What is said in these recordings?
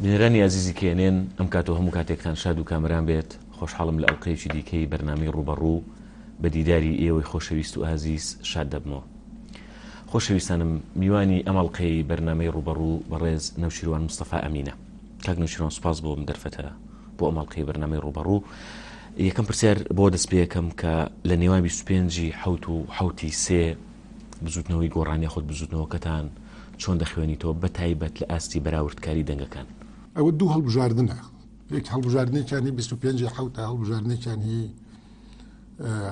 بینەرانی ئازیزی کێنێن ئەم کات و هەموو کاتێکتان شاد و کامران بێت خۆشحاڵم لە ئەڵلقەیەکی دیکەی بەرنامی ڕوبەڕوو بە دیداری ئێوەی خۆشەویست و ئازیز شاد دەبمەوە خۆشەویستانم میوانی ئەم ئەڵقەی بەرنامەی ڕووبەڕوو بەڕێز نەوشیروان مستەفا ئەمینە کاک نەوشیروان سوپاس بۆ ئەم دەرفەتە بۆ ئەم ئەڵقەی بەرنامەی ڕووبەڕوو یەکەم پرسیار بۆ دەست پێەکەم کە لە نێوان 25 حوت و حوتی سێ بزوتنەوەی گۆڕانیا خۆت بزوتنەوەکەتان چۆن دەخوێنیتەوە بە تایبەت لە ئاستی بەراوردکاری دەنگەکان ئەوە دوو هەڵبژاردنە یەک هەڵبژاردنێکیانی 25 حوتە هەڵبژاردنێکیان هی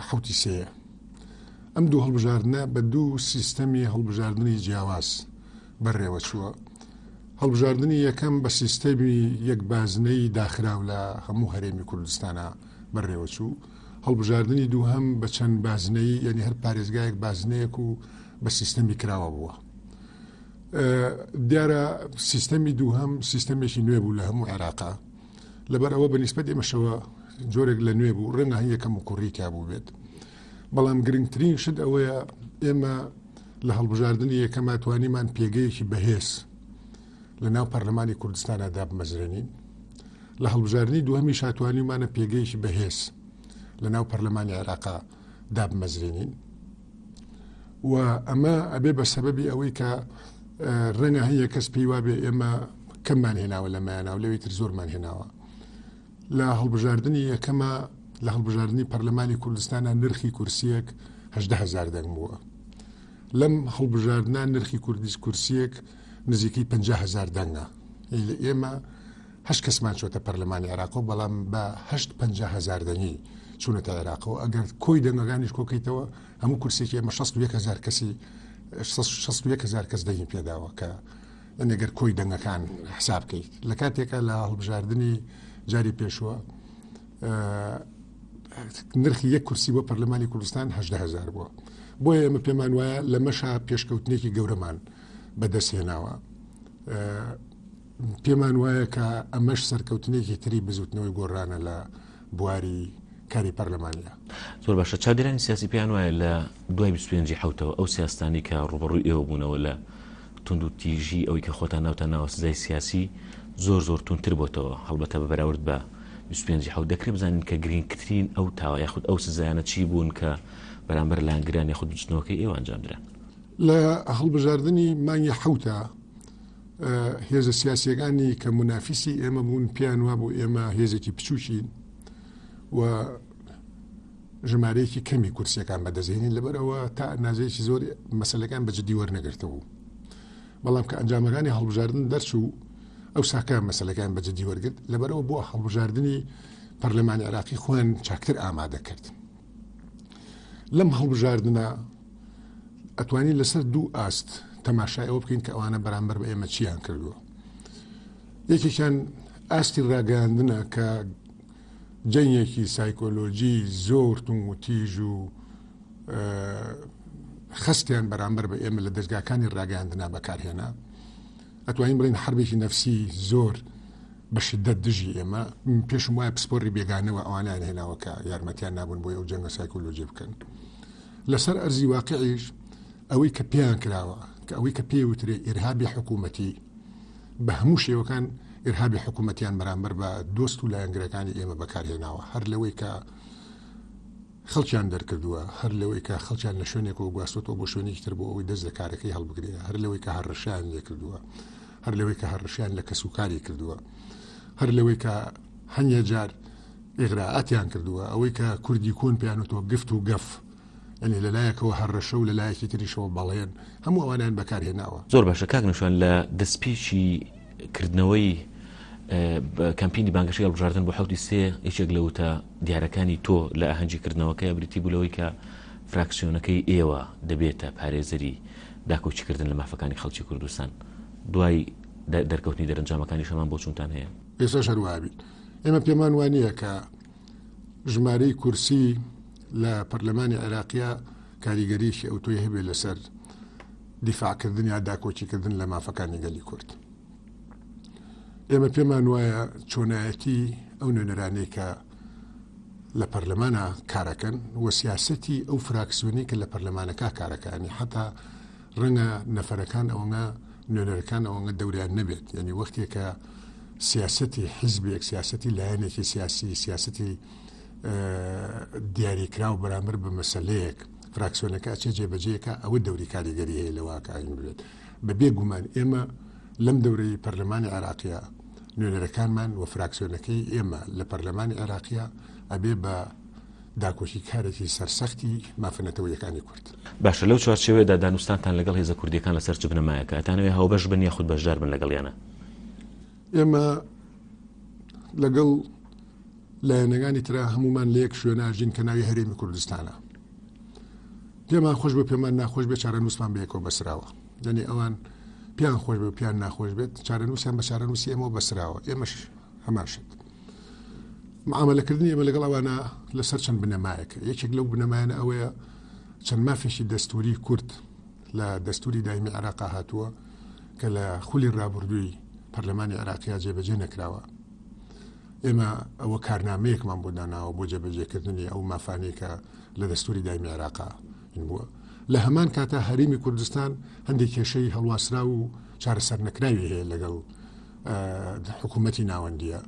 حوتی سێە ئەم دوو هەڵبژاردنە بە دوو سیستەمی هەڵبژاردنی جیاواز بەڕێوەچووە. هەڵبژاردنی یەکەم بە سیستەمی یەک بازنەی داخراو لە هەموو هەرێمی کوردستانە بەڕێوەچوو. هەڵبژاردنی دوو هەم بە چەند بازنەی یعنی هەر پارێزگایەک بازنەیەک و بە سیستەمی کراوە بووە. دیارە سیستەمی دوو هەم سیستەمێکی نوێ بوو لە هەموو عێراقا. لەبەر ئەوە بە نیسبەت ئێمەشەوە جۆرێک لە نوێ بوو ڕێنە هەن یەکەم و کوڕی تیا بوو بێت. بەڵام گرنگترین شت ئەوەیە ئێمە لە هەڵبژاردننی یەکەما توانیمان پێگەیەکی بەهێز لە ناو پەرلەمانی کوردستانە دابمەزرێنین لە هەڵبژاردننی دوهەمی شاتوانیمانە پێگەیەکی بەهێز لە ناو پەرلەمانی عێراقا دابمەزرێنین و ئەمە ئەبێ بە سەبەبی ئەوەی کە ڕەنگە هەیە کەس پێی وابێ ئێمە کەممان هێناوە لە مایانناو لەوی تر زۆرمان هێناوە لە هەڵبژاردنی یەکەما لە هەڵبژاردنی پەرلەمانی کوردستانە نرخی کورسیەک هەدە هزار دەنگ بووە لەم هەڵبژاردنان نرخی کوردیس کورسیەک نزیکەی 50 هزار دەنگە ئێمە هەش کەسمان چۆتە پەرلەمانی عراقۆ بەڵام بە هەشت پ هزار دەنگی چوونەتە عێراقەوە ئەگەر کۆی دەنگەکانیش کۆکەیتەوە هەموو کورسێکی ئەمە 16 هزار کەسی هزار کەس دەنگی پێداوە کە ئەگەر کۆی دەنگەکان حساب بکەیت لە کاتێکە لە هەڵبژاردننی جاری پێشوە نرخی یەک کورسی بۆ پەرلەمانی کوردستان هزار بووە بۆیە ئێمە پێمان وایە لە مەشا پێشکەوتنێکی گەورەمان بەدەستهێناوە پێمان وایە کە ئەمەش سەرکەوتنێکی تری بزوتنەوەی گۆڕانە لە بواری کاری پەرلەمانیە. زۆر باشە چاودێرانی سیاسی پێیان وایە لە دوای 25 حوتەوە ئەو سیاستانی کە ڕوبەڕووی ئێوە بوونەوە لە تونند و تیژی ئەوی کە خۆتان ناوتان ناوە سزای سیاسی زۆر زۆر تونتر بۆتەوە هەڵبەتە بە بەراورد بە 25 حوت دەکرێ بزانین کە گرنگترین ئەو تاوە یاخود ئەو سزایانە چی بوون کە بەرامبەر لانگران یاخود بچنەوەکە ئێوانجامدران لە هەڵبژاردننی مانگی حوتە هێزە سیاسیەکانی کە منافیسی ئێمە بوون پێیان وابوو ئێمە هێزێکی بچووکین و ژمارەیەکی کەمی کورسیەکان بەدەزێنین لەبەرەوە تا نازێکی زۆر مەسلەکان بە جددی وەرنەگرتەوە بەڵام کە ئەنجامەکانی هەڵبژاردن دەرچوو ئەو ساکە مەسلەکان بە جددی وەرگرت لەبەرەوە بۆ هەڵبژاردننی پەرلەمانی عراقی خۆیان چاکتر ئامادە کرد لەم هەڵبژاردنە ئەتوانین لەسەر دوو ئاست تەماشای ئەوە بکەین کە ئەوانە بەرامبەر بە ئێمە چیان کردووە یەکێکیان ئاستی ڕاگەاندنە کە جەنگێکی سایکۆلۆجی زۆر تون و تیژ و خستیان بەرامبەر بە ئێمە لە دەستگاکانی ڕاگەاندنا بەکارهێنا ئەتوانین بڵین حربێکی نەفسی زۆر بە شدت دژی ئێمە پێشم وایە پسپۆری بێگانەوە ئەوانیان هێناوەکە یارمەتیان نابوون بۆ ئەو جەنگە سایکۆلۆجی بکەن. لەسەر ئەرزی واقعیش ئەوەی کە پێیان کراوە کە ئەوەی کە پێی وترێ ئیرهابی حکوومەتی بە هەموو شێوەکان ئیرهابی حکوومەتیان بەرامبەر بە دۆست و لایەنگرەکانی ئێمە بەکارهێناوە هەر لەوەی کە خەڵکیان دەرکردووە هەر لەوەی کە خەڵکیان لە شوێنێکەوە گواستۆ بۆ شوێنێکی تر بۆ ئەوەی دەست لە کارەکەی هەڵبگرێ هەر لەوەی کە هەڕشیان لێ کردووە هەر لەوەی کە هەڕشیان لە کەسوکاری کردووە هەر لەوەی کە هەنگە جار ئیغرائاتیان کردووە، ئەوەی کە کوردی کۆن پێیان وتووە گفت و گەف، یەنی لە لایەکەوە هەڕەشە و لە لایەکی تریشەوە بەڵێن، هەموو ئەوانەیان بەکار هێناوە. زۆر باشە کاک نەوشیروان لە دەستپێکی کردنەوەی کەمپینی بانگەشەی هەڵبژاردن بۆ حەوتی سێ یەکێک لە وتە دیارەکانی تۆ لە ئاهەنگی کردنەوەکەی بریتی بوو لەوەی کە فراکسیۆنەکەی ئێوە دەبێتە پارێزەری داکۆکیکردن لە مافەکانی خەڵکی کوردستان دوای دەرکەوتنی دەرەنجامەکانی شەمان بۆچوونتان هەیە؟ ئێستاش هەر وابیت. ئێمە پێمان وانە کە ژمارەی کورسی لە پەرلەمانی عێراقیە کاریگەریشی ئەو تۆی هەبێ لەسەر دیفاعکردن یا داکۆچیکردن لە مافەکانی گەلی کورد. ئێمە پێمان وایە چۆنایەتی ئەو نوێنەرانەی کە لە پەرلەمانە کارەکەن و سیاستی ئەو فراکسیۆنی کە لە پەرلەمانەکە کارەکانی حتا ڕەنگە نەفەرەکان ئەوەنە نوێنەرەکان ئەوەنە دەوریان نەبێت یعنی وەختێکە سیاستی حیزبێک سیاستی لایەنێکی سیاسی سیاستی دیاریکراو بەرامبەر بە مەسلەیەک فراکسیۆنەکە ئەچێ جێبەجێکە ئەوە دەوری کاریگەری هەیە لە واکاین بێت بە بێگومان ئێمە لەم دەورەی پەرلەمانی عراقیە نوێنەرەکانمان و فراکسیۆنەکەی ئێمە لە پەرلەمانی عێراقیە ئەبێ بە داکۆکیکارێکی سەرسەختی مافە نەتەوەیەکانی کورد. باشە لەو چوارچێوەیەدا دانوستانتان لەگەڵ هێزە کوردییەکان لەسەر چ بنەمایەکە؟ ئەتانەوێ هاوبەش بن یاخود بەشدار بن لەگەڵیانا؟ ئێمە لەگەڵ لایەنەکانی ترا هەمومان لە یەک شوێن ئاژین کە ناوی هەرێمی کوردستانە. پێمان خۆش بە پێمان ناخۆش بێ چارەنووسمان بەیەکەوە بەسراوە. دەنێ ئەوان پێیان خۆش بە پێیان ناخۆش بێت چارەنووسیان بە چارەنووسی ئێمەوە بەسراوە ئێمەش هەمان شت. معاملەکردنی ئێمە لەگەڵ ئەوانە لەسەر چەند بنەمایەکە یەکێک لەو بنەمایانە ئەوەیە چەند مافێکی دەستوری کورد لە دەستوری دایمی عراقا هاتووە کە لە خولی رابردووی پەرلەمانی عراقیا جێبەجێ نەکراوە ئێمە ئەوە کارنامەیەکمان بۆ داناوە بۆ جێبەجێکردنی ئەو مافانێکە لە دەستوری دایمی عراقا بووە لە هەمان کاتا هەرمی کوردستان هەندێک کێشەی هەڵواسرا و چارەسەر نەکراوی هەیە لەگەڵ حکوومەتی ناوەندیە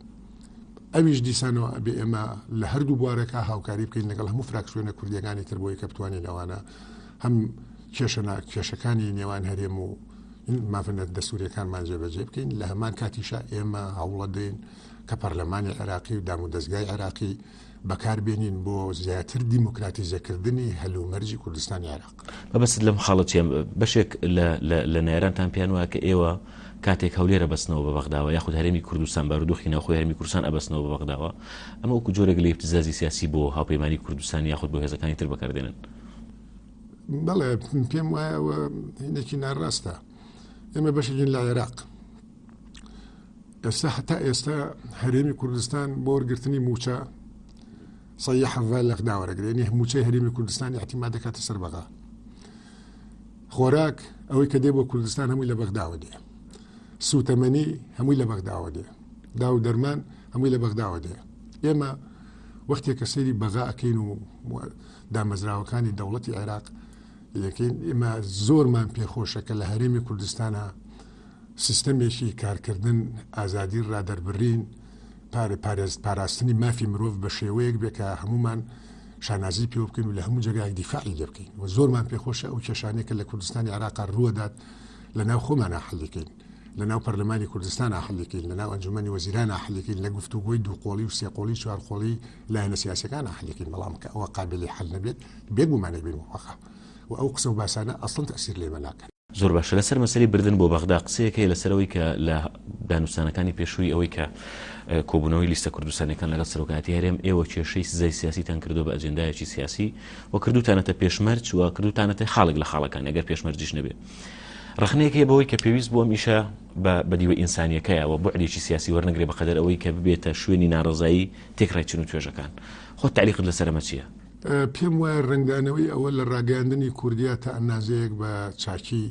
ئەویش دیسانەوە ئەبێ ئێمە لە هەردوو بوارەکە هاوکاری بکەین لەگەڵ هەموو فراکسیۆنە کوردیەکانی تر بۆی کە بتوانین ئەوانە هەم کێشەنا کێشەکانی نێوان هەرێم و مافەت دەسوورەکانمان جێبەجێ بکەین لە هەمان کاتیشا ئێمە هەوڵە دێن کە پەرلەمانی عراقی و دام و دەستگای عراقی بەکار بێنین بۆ زیاتر دیموکراتیزەکردنی هەلومەرجی کوردستانی عێراق بەبست لەم خاڵەتیان بەشێک لە نێرانتان پێیان وایە کە ئێوە کاتێک هەولێرە بەستنەوە بە بەغداوە یاخود هەرمی کوردستان بارودۆخی ناوخۆی هەرمی کوردستان ئەبستنەوە بە بەغداوە ئەمە وەکو جۆرەگە لە ابتزازی سیاسی بۆ هاوپەیمانی کوردستان یاخود بۆ هێزەکانی تر بەکاردێنن بەڵێ پێم وایە هینێکی ناڕاستە ئێمە بەشێکین لە عێراق ئێستا حتا ئێستا هەرێمی کوردستان بۆ وەرگرتنی موچە سە حەڤە لەق داوەرەگرێنی موچەی هەرێمی کوردستان احتیما دەکاتە سەر بەغا خۆراک ئەوەی کە دێ بۆ کوردستان هەمووی لە بەغداوە دێ سووتەمەنی هەمووی لە بەغداوە دێ دا و دەرمان هەمووی لە بەغداوە دێ ئێمە وەختێک کە سەیری بەغا ئەکەین و دامەزراوەکانی دەوڵەتی عێراق یەکەین ئێمە زۆرمان پێخۆشە کە لە هەرێمی کوردستانە سیستەمێکی کارکردن، ئازادی ڕادەربڕین، پاراستنی مافی مرۆڤ بە شێوەیەک بێ کە هەموومان شانازی پێوە بکەین و لە هەموو جێگایەک دیفاعی لێ بکەین و زۆرمان پێخۆشە ئەو کێشانەیە کە لە کوردستانی عێراقا ڕووەدات لە ناو خۆمانە حەلیکەین لە ناو پەرلەمانی کوردستان حەلیکەین لە ناو ئەنجومەنی وەزیران حەلیکەین لە گفتوگۆی دووقۆڵی و سێقۆڵی چوارقۆڵی لایەنە سیاسەکان حەلیکەین بەڵام کە ئەوە قابلی حل نەبێت بێگومانێک بین وەخە و ئەو قسە و باسانە ئەسڵن تەسیر لێمە ناکەن زۆر باشە لەسەر مەسەلەی بردن بۆ بەغدا قسەیەک هەیە لەسەرەوەی کە لە دانوستانەکانی پێشووی ئەوەی کە کۆبوونەوەی لیستە کوردستانەکان لەگەڵ سەرۆکاتی هەرێم ئێوە کێشەی سزای سیاسیتان کردو بە ئەجندایەکی سیاسی و کردوتانەتە پێشمەرج و کردوتانەتە خاڵێک لە خاڵەکان ئەگەر پێشمەرجیش نەبێت ڕخنەیەک هەیە بەوەی کە پێویست بووە میشە بە بەدیوە ئینسانیەکەیەوە بۆعدێکی سیاسی وەرنگرێ بەقدر ئەوەی کە ببێتە شوێنی ناڕزایی تێکڕای چن و توێژەکان خۆ تعلیقت لەسەرمە چییە؟ پێم وایە ڕەنگدانەوەی ئەوە لە ڕاگەیاندنی کوردیا تا ئەندازەیەک بە چاکی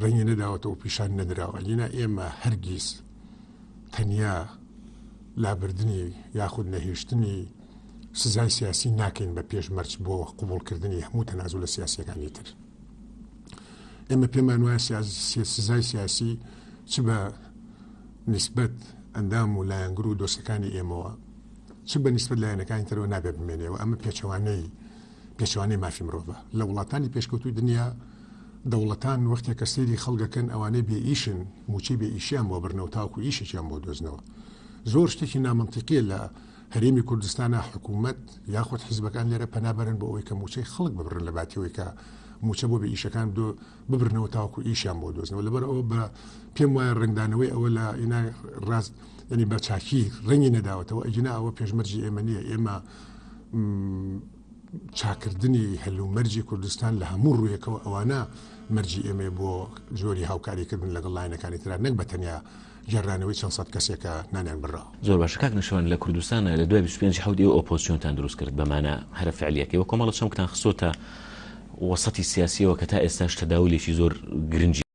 ڕەنگی نەداوەتەوە پیشان نەدراوە ئەگینا ئێمە هەرگیز تەنیا لابردنی یاخود نەهێشتنی سزای سیاسی ناکەین بە پێش مەرج بۆ قوبولکردنی هەموو تەنازو لە سیاسەکانی تر ئێمە پێمان وایە سزای سیاسی چ بە نسبەت ئەندام و لایەنگر و دۆستەکانی ئێمەوە چ بە نیسبەت لایەنەکانی ترەوە نابێ بمێنێەوە ئەمە پێچەوانەی پێچوانەی مافی مرۆڤە لە وڵاتانی پێشکەوتوی دنیا دەوڵەتان وەختێک کە سێری خەڵگەکەن ئەوانەی بێ ئیشن موچەی بێ ئیشیان بۆ برنەوە تاکو ئیشێکیان بۆ دۆزنەوە زۆر شتێکی نامەنتیقیە لە هەرێمی کوردستانە حکوومەت یاخود حیزبەکان لێرە پەنابەرن بۆ ئەوەی کە موچەی خەڵک ببرن لە باتیەوەی کە موچە بۆ بە ئیشەکان دۆ ببرنەوە تاکو ئیشیان بۆ دۆزنەوە لەبەر ئەوە بە پێم وایە ڕنگدانەوەی ئەوە لە ئینای ڕاست یعنی بە چاکی ڕەنگی نەداوەتەوە ئەگینا ئەوە پێشمەرجی ئێمە نییە ئێمە چاکردنی هەلومەرجی کوردستان لە هەموو ڕوویەکەوە ئەوانە مەرجی ئێمە بۆ جۆری هاوکاریکردن لەگەڵ لاینەکانی تررا نەک بە تەنیا گەڕانەوەی چەند سەد کەسێکە نانیان بڕا زۆر باشە کاک نشوان لە کوردستانە لە دوای 25 حوت ئێو ئۆپۆسیۆنتان دروست کرد بەمانە هەرە فعلیەکەی وە کۆمەڵە چەمکتان خسۆتە وەسەتی سیاسیەوە کە تا ئێستاش تەداولێکی زۆر گرنگی